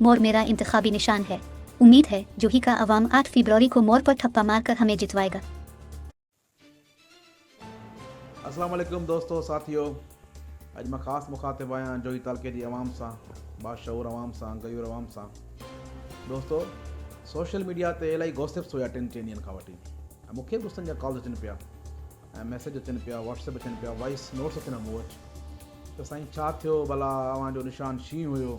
مور ميرا انتخابي نشان هي اميد هي جو هي ڪا عوام آٺ فيبروري کو مور پر ٺپا مار ڪر همي جتوائي گا. السلام عليڪم دوستو ساٿيو اڄ مان خاص مخاطب آهيان جوهي تعلقي جي عوام سان باشعور عوام سان غيور عوام سان دوستو سوشل ميڊيا تي الائي گوسپس هيا ٽن چئن ڏينهن کان وٺي ۽ مونکي به غصن جا ڪالز اچن پيا ۽ ميسيج اچن پيا واٽس ايپ اچن پيا وائيس نوٽس اچن اڳو اچ ته سائين ڇا ٿيو ڀلا اوهان جو نشان شينهن هيو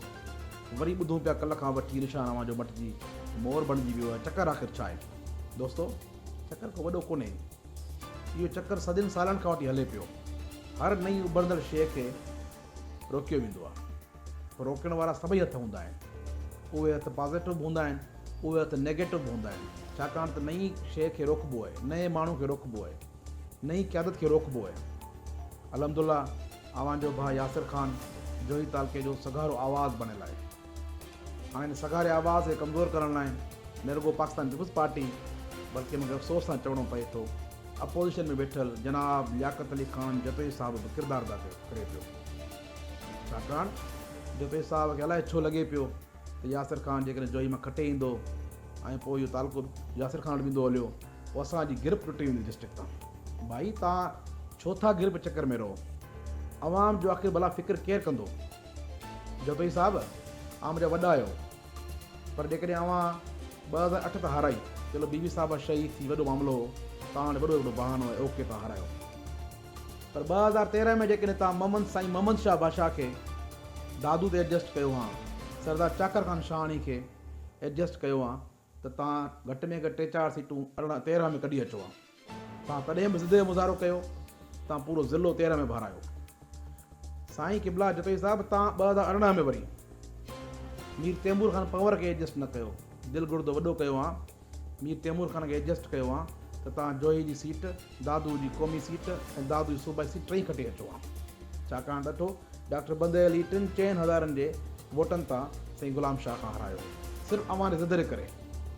وري ٻڌون پيا ڪلهه کان وٺي نشان اوهان جو مٽجي مور بڻجي ويو آهي چڪر آخر ڇا آهي دوستو چڪر ڪو وڏو ڪونهي اهو چڪر صدين سالن کان وٺي هلي پيو هر نئين اڀرندڙ شيء کي روڪيو ويندو آهي. روڪڻ وارا سڀئي هٿ هوندا آهن. اهي هٿ پازيٽو به هوندا آهن، اهي هٿ نيگيٽو به هوندا آهن، ڇاڪاڻ ته نه ئي شيء کي روڪبو آهي، نه ئي ماڻهو کي روڪبو آهي، نه ئي قيادت کي روڪبو آهي. الحمد الله اوهان جو ڀاء ياسر خان جوهي تعلقي جو سگهارو آواز بڻيل آهي. هاڻي ان سگهاري آواز کي ڪمزور ڪرڻ لاء نه رڳو پاڪستان پيپلز پارٽي بلڪه مون کي افسوس سان چوڻو پئي ٿو اپوزيشن ۾ ويٺل جناب لياقت علي خان جتوئي صاحب به ڪردار ادا ڪري پيو. ڇاڪاڻ جو پير صاحب کي الائي ڇو لڳي پيو ته ياسر خان جيڪڏهن جوئي مان کٽي ايندو ۽ پوء اهو تعلقو ياسر خان وٽ ويندو هليو پوء اسان جي گرپ ٽٽي ويندي ڊسٽرڪٽ تان. ڀائي توهان ڇو ٿا گرپ چڪر ۾ رهو. عوام جو آخر ڀلا فڪر ڪير ڪندو. جتوئي صاحب اوهان منهنجا وڏا آهيو پر جيڪڏهن اوهان ٻه هزار اٺ تان هارائي چلو بي بي صاحبه شهيد ٿي وڏو معاملو هو توهان وٽ وڏو وڏو بهانو ۽ اوڪي توهان هارايو. پر ٻه هزار تيرنهن ۾ جيڪڏهن توهان محمد سائين محمد شاهه بادشاهه کي دادو تي ايڊجسٽ ڪيو هان، سردار چاڪر خان شاهاڻي کي ايڊجسٽ ڪيو هان ته توهان گهٽ ۾ گهٽ ٽي چار سيٽون ارڙهن تيرنهن ۾ ڪڍي اچو هان. توهان تڏهن به ضد جو مظاهرو ڪيو، توهان پورو ضلعو تيرنهن ۾ ڀارايو. سائين قبله جتوئي صاحب توهان ٻه هزار ارڙهن ۾ وري مير تيمور خان پنور کي ايڊجسٽ نه ڪيو، دل گڙدو وڏو ڪيو هان، مير تيمور خان کي ايڊجسٽ ڪيو ها ته توهان جوهي جي سيٽ، دادوء جي قومي سيٽ ۽ دادوء جي صوبائي سيٽ ٽئي کٽي اچو ها. ڇاڪاڻ ڏٺو، ڊاڪٽر بندي علي ٽن چئن هزارن جي ووٽن تان سائين غلام شاهه کان هارايو. صرف اوهان جي ضدري ڪري،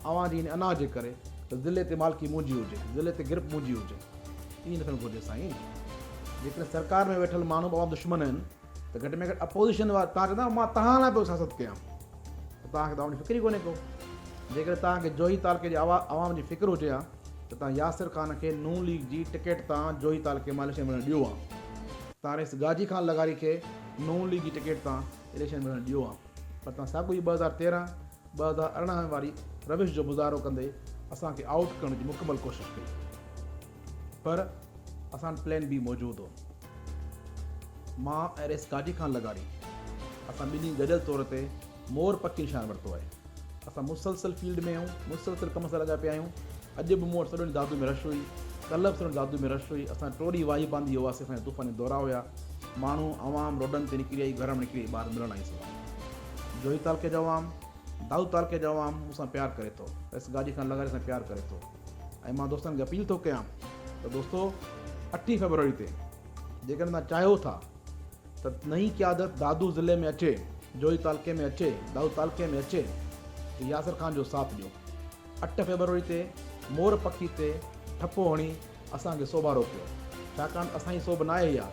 اوهان جي ان انا جي ڪري ته ضلعي تي مالڪي منهنجي هجي، ضلعي تي گرپ منهنجي هجي. ائين نه ٿيڻ گهرجي سائين. جيڪڏهن سرڪار ۾ ويٺل ماڻهو به اوهان جا دشمن آهن، ته گهٽ ۾ گهٽ اپوزيشن وارا توهان چوندا مان توهان لاء پيو سياست ڪيان ته توهان کي ته عوام جي فڪر ئي ڪونهي ڪو جيڪڏهن توهان کي جوهي تعلقي جي عوام جي فڪر هجي ها ته توهان ياسر خان کي نون ليگ جي ٽڪيٽ تان جوهي تعلقي مان اليڪشن وڙهڻ ڏيو ها توهان رئيس غازي خان لغاري کي نون ليگ جي ٽڪيٽ تان اليڪشن وڙهڻ ڏيو ها پر توهان ساڳو ئي ٻه هزار تيرهن ٻه هزار ارڙهن واري روش جو مظاهرو ڪندي اسان کي آئوٽ ڪرڻ جي مڪمل ڪوشش ڪئي. پر اسان وٽ پلان بي موجود هو. مان ۽ رئيس گاڏي ڪانه لڳاري. اسان ٻنهي گڏيل طور تي مور پکي نشان ورتو آهي. اسان مسلسل فيلڊ ۾ آهيون، مسلسل ڪم سان لڳا پيا آهيون. اڄ به مون وٽ سڄو ڏينهن دادو ۾ رش هئي. ڪلهه به سڄو ڏينهن دادو ۾ رش هئي. اسان ٽوڙي واهي باندي هئاسين. اسان جا طوفاني دورا هيا. ماڻهو، عوام روڊن تي نڪري آئي، گهران نڪري آئي ٻاهر ملڻ آئي سو آهي. جوهي تعلقي جو عوام، دادو تعلقي جو عوام مون سان پيار ڪري ٿو. رئيس گاڏي ڪانه لڳاري سان پيار ڪري ٿو. ۽ مان دوستن کي اپيل ٿو ڪيان ته دوستو اٺين فيبروري تي جيڪڏهن توهان چاهيو ٿا ته نئين قيادت دادو ضلعي ۾ اچي جوهي تعلقي ۾ اچي دادو تعلقي ۾ اچي ته ياسر خان جو ساٿ ڏيو اٺ فيبروري تي مور پکي تي ٺپو هڻي اسان کي سوڀارو ڪيو ڇاڪاڻ اسان جي سوڀ ناهي اها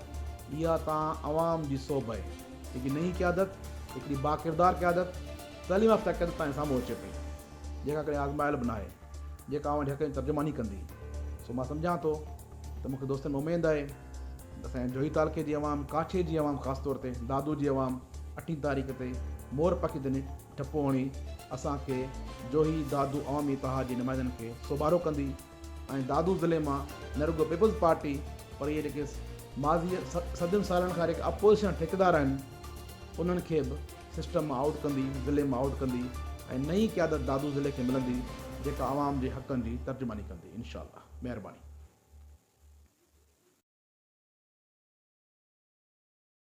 اها توهان عوام جي سوڀ آهي هڪ نئين قيادت هڪڙي باڪردار قيادت تعليم يافته قيادت توهان سامهون اچي پئي جيڪا ڪڏهن آزمايل به ناهي جيڪا اوهان جي حق ۾ ترجماني ڪندي سو مان سمجهان ٿو ته مون کي دوستن ۾ اميد آهي ته اسان جي جوهي تعلقي جي عوام، ڪاڇي جي عوام خاص طور تي دادو جي عوام اٺين تاريخ تي مور پکي ڌني ٽپو هڻي اسان کي جوهي دادو عوامي اتحاد جي نمائندن کي سوڀارو ڪندي ۽ دادو ضلعي مان نه رڳو پيپلز پارٽي پر اهي جيڪي ماضي صدين سالن کان جيڪي اپوزيشن ٺيڪيدار آهن انهن کي به سسٽم مان آئوٽ ڪندي، ضلعي مان آئوٽ ڪندي ۽ نئين قيادت دادو ضلعي کي ملندي جيڪا عوام جي حقن جي ترجماني ڪندي انشاء الله. مهرباني.